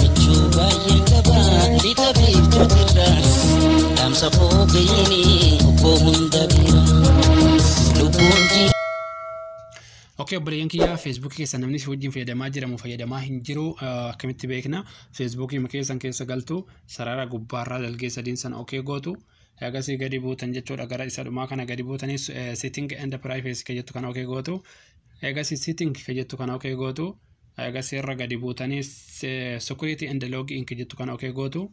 Michuu baay'een qaba lixa biiftuutirra dhaamsa koo ga'iini obboo hunda bira lubbuun jiidha. Ok obboleeyyan kiyyaa Facebook keessa namni si wajjin fayyadamaa jira moo fayyadamaa hin jiru ah, akkamitti beekna Facebook keessan keessa galtu sarara gubbaarraa dalgee sadiin sana ok gootu Eegasii gadi buutan jechuudha gara isa dhumaa kana gadi buutanii sitting and privacy kan jettu kana okee gootu. Eegasii sitting kan jettu kana okee gootu. Eegasii irra gadi buutanii security and login kan jettu kana okee gootu.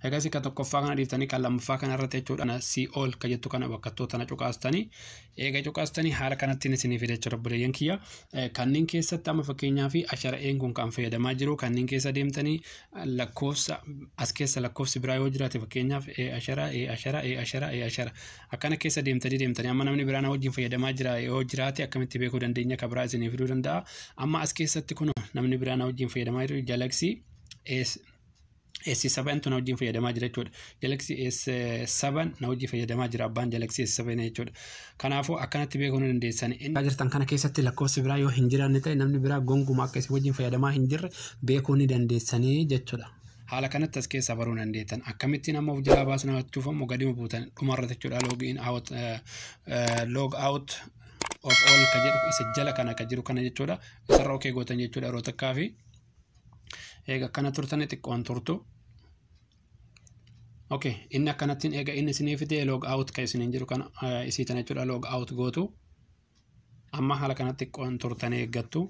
Eegasii kan tokkoffaa kana dhiiftanii kan lammaffaa kana irratti jechuudha si ol kan jettu kana bakkattuu tana cuqaastanii eega cuqaastanii haala kanattiin isinii fida jechuudha buleeyyan kiyya. Kanneen keessatti amma fakkeenyaa fi ashara'een kun kan fayyadamaa jiru kanneen keessa deemtanii lakkoofsa as keessa lakkoofsi biraa yoo jiraate fakkeenyaaf e ashara e ashara e ashara e ashara akkana keessa deemtanii deemtanii amma namni biraa na wajjin fayyadamaa jira yoo jiraate akkamitti beekuu dandeenya ka biraa isinii fiduu danda'a amma as keessatti kun namni biraa na wajjin fayyadamaa jiru jalaksii es S saban tun wajjin fayyadamaa jira jechuudha. Jalaksii S saban na wajjin fayyadamaa jira abbaan jalaksii S saban jechuudha. Kanaafuu akkanatti beekuu ni dandeessan. Inni jirtan kana keessatti lakkoofsi biraa yoo hin jiraanne ta'e namni biraa gonkumaa akka isin wajjin fayyadamaa hin jirre beekuu ni dandeessanii jechuudha. Haala kanatti as keessaa baruu dandeettan. Akkamittiin amma of jalaa baasuun hawwachuuf ammoo gadima buutan dhumarratti jechuudha log in out log out of all ka jedhu isa jala kana ka jiru kana jechuudha. Isarra okee gootan jechuudha yeroo takkaa fi eega akkana turtanii xiqqoon turtu. ok inni akkanattiin eega inni isinii fidee log out kan isiniin jiru kana eh, isii tana jechuudha log out gootu amma haala kanatti qoon turtanii eeggattu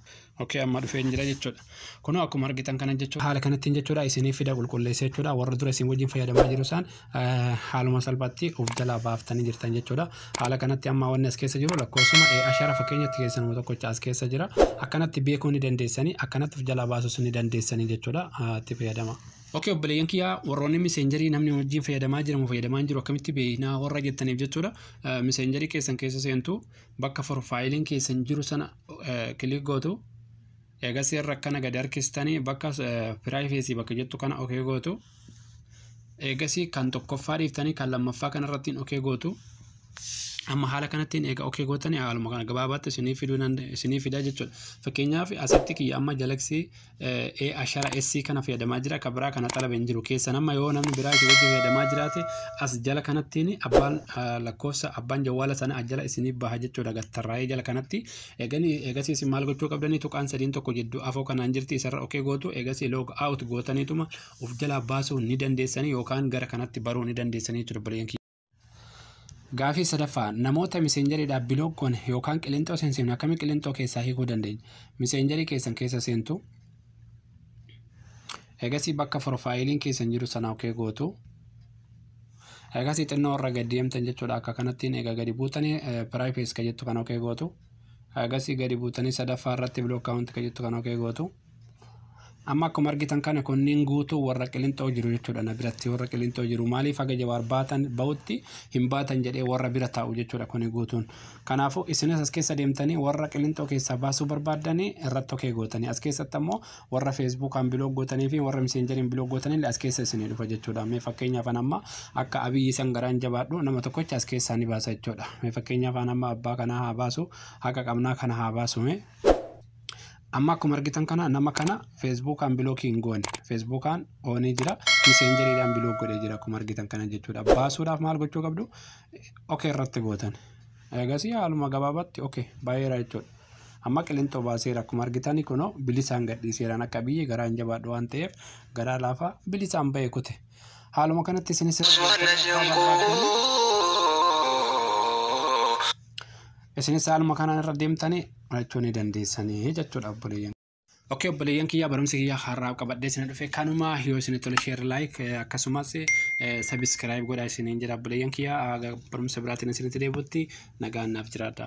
ok amma dhufeen jira jechuudha kunoo akkuma argitan kana jechuudha haala kanattiin jechuudha isiniif fida qulqulleessa jechuudha warra dura isin wajjin fayyadamaa jiru isaan eh, haaluma salphaatti of jalaa baaftanii jirtan jechuudha haala kanatti amma wanni as keessa jiru lakkoofsuma eh, ashara fakkeenyatti keessanuma tokkocha as keessa jira akkanatti beekuu ni dandeessanii akkanatti of jalaa baasuus ni dandeessanii jechuudha Ah, itti fayyadama. Ok obboleeyyan kiyya warroonni miseenjarii namni wajjin fayyadamaa jira moo fayyadamaa hin jiru akkamitti beeknaa warra jettaniif jechuudha miseenjarii keessan keessa seentu bakka forfaayiliin keessan jiru sana kilik gootu eegas irra akkana gad harkistanii bakka piraayifeesii bakka jettu kana ok gootu eegas kan tokkoffaa dhiiftanii kan lammaffaa kanarrattiin ok gootu amma haala kanattiin eega ok gootanii haaluma kana gabaabaatti isinii fiduu isinii fidaa jechuudha fakkeenyaaf asitti kiyya amma jalaksii ee ashara SC kana fayyadamaa jira ka biraa kana xalabe hin jiru keessan amma yoo namni biraa isin wajjin fayyadamaa jiraate as jala kanattiin abbaan ah, lakkoofsa abbaan jawwaala sana as jala isinii baha jechuudha gattarraa'ee jala kanatti eeganii eegasii isin maal gochuu qabdanii tuqaan sadiin tokko jidduu afoo kanaan jirti isarra okee gootu eegasii log out gootaniituma of jalaa baasuu ni dandeessanii yookaan gara kanatti baruu ni dandeessanii jechuudha bileen kiyya. Gaafii sadaffaa namoota miseenjariidhaaf biloog goone yookaan qilinxoo seensiifne akkamii qilinxoo keessaa hiikuu dandeenya? Miseenjarii keessan keessa seentu. Egasii bakka profaayiliin keessan jiru sana okee gootu. Egasii xinnoo irra gad deemtan jechuudha akka kanattiin egaa gadi buutanii piraayifees ka jettu kan okee gootu. Egasii gadi buutanii sadaffaa irratti biloog kaawunti ka jettu kan okee gootu. Amma akkuma argitan kana kunniin guutuu warra qilinxoo jiru jechuudha na biratti warra qilinxoo jiru maaliif haga jawaar baatan ba'utti hin baatan jedhee warra bira taa'u jechuudha kuni guutuun. Kanaafuu isinis as keessa deemtanii warra qilinxoo keessaa baasuu barbaaddanii irratti tokkee gootanii as keessatti ammoo warra feesbuukaan biloog gootanii fi warra miseenjeriin biloog gootanillee as keessa isinii dhufa jechuudha. Mee fakkeenyaaf an amma akka abiyyi san garaan jabaadhu nama tokkocha as keessaa ni baasa jechuudha. Mee fakkeenyaaf an amma abbaa kanaa haa baasu haqa qabnaa kana haa baasume. Amma akkuma argitan kana nama kana feesbuukaan bilookii hin goone. Feesbuukaan oonee jira. Miseenjeriidhaan bilook godhee jira akkuma argitan kana jechuudha. Baasuudhaaf maal gochuu qabdu? Okee irratti gootan. Eegasii haaluma gabaabaatti okee baay'eera jechuudha. Amma qilintoo baaseera akkuma argitan kunoo bilisaan gadhiiseeraan akka biyyi garaa hin jabaadhu waan ta'eef garaa laafaa bilisaan ba'e kute. Haaluma kanatti isinis irra Subhanallah, deebi'uun yoo abbaa barbaaddan- koo. Isinis haaluma kanaan irra deemtanii barachuu ni dandeessanii jechuudha obboleeyyan. Okkee obboleeyyan kiyyaa barumsi kiyyaa har'aa qabadhee isin dhufe kanuma yoo isin tole sheer laayik akkasumas sabiskiraayib godhaa isiniin jedha obboleeyyan kiyyaa barumsa biraatiin isinitti deebi'utti nagaan naaf jiraadha.